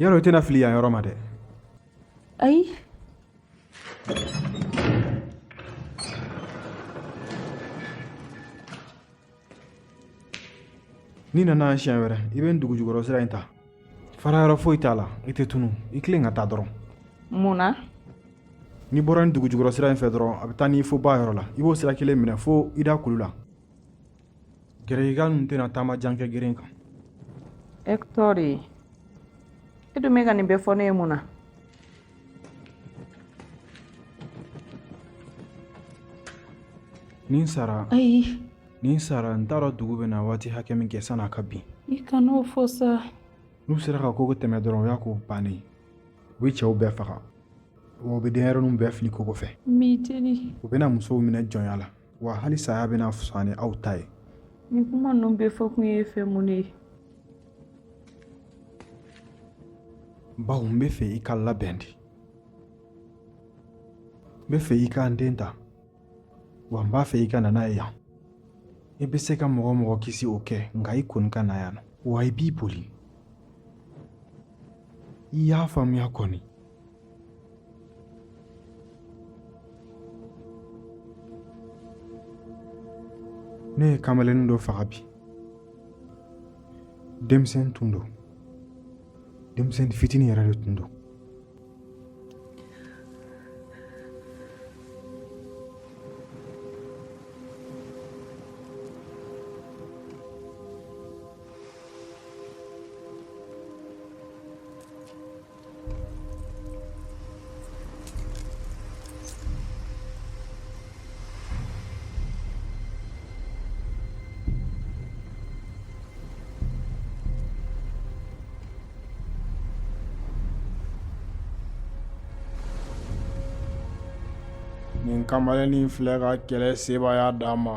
yɔrɔ i tɛna fili yan yɔrɔ ma dɛ ayi n'i nana yan siɲɛ wɛrɛ i bɛ nin dugujukɔrɔ sira in ta fara yɔrɔ foyi t'a la i tɛ tunu i tilen ka taa dɔrɔn mun na n'i bɔra nin dugujukɔrɔ sira in fɛ dɔrɔn a bɛ taa n'i fo ba yɔrɔ la i b'o sira kelen minɛ fo Ida kulu la Gɛrɛsika ninnu tɛna taama jan kɛ gɛrɛ kan Hector e dun bɛ ka nin bɛɛ fɔ ne ye mun na ni n sara ayi ni n sara n t'a dɔn dugu bɛna waati hakɛ min kɛ san'a ka bin i kan'o fɔ sa n'u sera ka kogo tɛmɛ dɔrɔn o y'a ko bannen ye u bɛ cɛw bɛɛ faga wa u bɛ denyɛrɛninw bɛɛ fili kogo fɛ n b'i deli u bɛna musow minɛ jɔnya la wa hali saya bɛna fisaya ni aw ta ye nin kuma ninnu bɛɛ fɔ kun ye fɛn mun ye bawo n bɛ fɛ i ka labɛn de n bɛ fɛ i ka n den ta wa n b'a fɛ i ka na n'a ye yan i bɛ se ka mɔgɔ o mɔgɔ kisi o kɛ nka i kɔni ka na yan wa i b'i boli i y'a faamuya kɔni ne ye kamalennin dɔ faga bi denmisɛn tun don denmisɛn fitinin yɛrɛ de tun don Nin kamalennin filɛ ka kɛlɛ sebaaya d'an ma